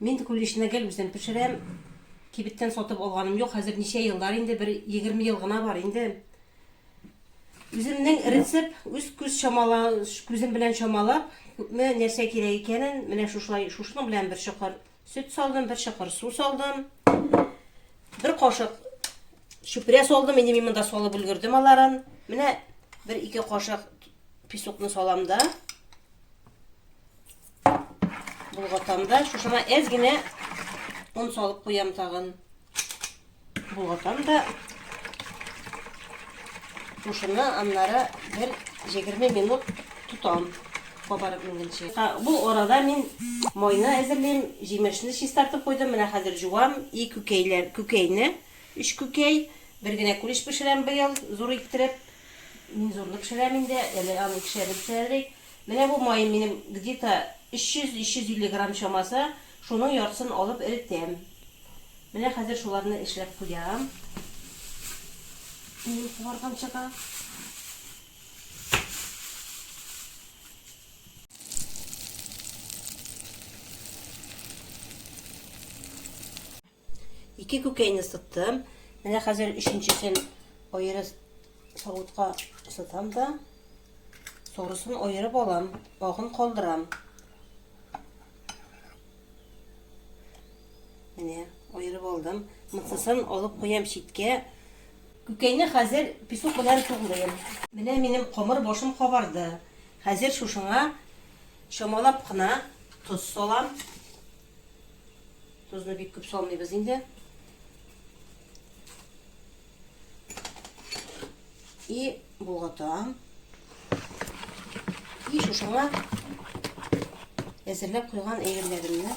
Мин куличны гел үзем пешерәм. Кибеттән сатып алганым юк. Хәзер ничә еллар инде, бер егерме ел гына бар инде. Үземнең рецепт, үз күз чамала, күзем белән чамалап, күпме нәрсә кирәк икәнен, менә шушылай, шушының белән бер чокыр сөт салдым, бер чокыр су салдым. Бер кашык чүпрә салдым, инде мин монда салып өлгердем аларын. Менә бер ике кашык песокны салам да. Болгатамда шушына әз генә он салып куям тагын. Болгатам да шушыны аннары бер 20 минут тотам кабарып менгенче. Бу арада мин майны әзерлим, җимешне чистартып куйдым. Менә хәзер жуам и күкәйләр, күкәйне, үч күкәй, бер генә күлеш пешерәм быел, зур иттереп. Мин зурлы пешерәм инде, әле аны кешәбез пешерәлек. Менә бу маем минем где-то 300-350 грамм чамасы, шуның яртысын алып эретәм. Менә хәзер шуларны эшләп куям. Минем куарган чыга. Ике күкәйне сыттым. Менә хәзер өченчесен аеры савытка сытам да сорысын аерып алам, агын калдырам. Менә аерып алдым. Мыцысын алып куям читкә. Күкәйне хәзер песок белән туглыйм. Менә минем камыр башым кабарды. Хәзер шушыңа чамалап кына тоз салам. Тозны бик күп салмыйбыз инде. И болгатам. И шушыңа әзерләп куйган әйберләремне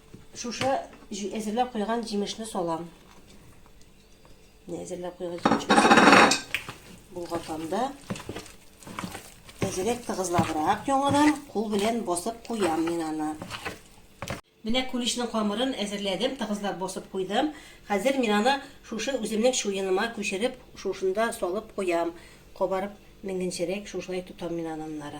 Шушы әзерләп куйган җимешне салам. Әзерләп куйган җимешне булгатканда әзерәк тыгызлабрак яңадан кул белән басып куям мин аны. Менә куличның камырын әзерләдем, тыгызлап басып куйдым. Хәзер мин аны шушы үземнең чуеныма күчереп, шушында салып куям. Кабарып менгенчерәк шушылай тотам мин аннары.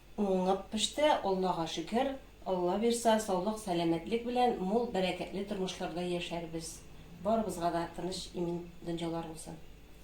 Уңып пеште, Аллага шөкер, Алла бирса, саулык, сәламәтлек белән мул бәрәкәтле тормышларда яшәрбез, барыбызга да тыныч, имин дөньялар булсын.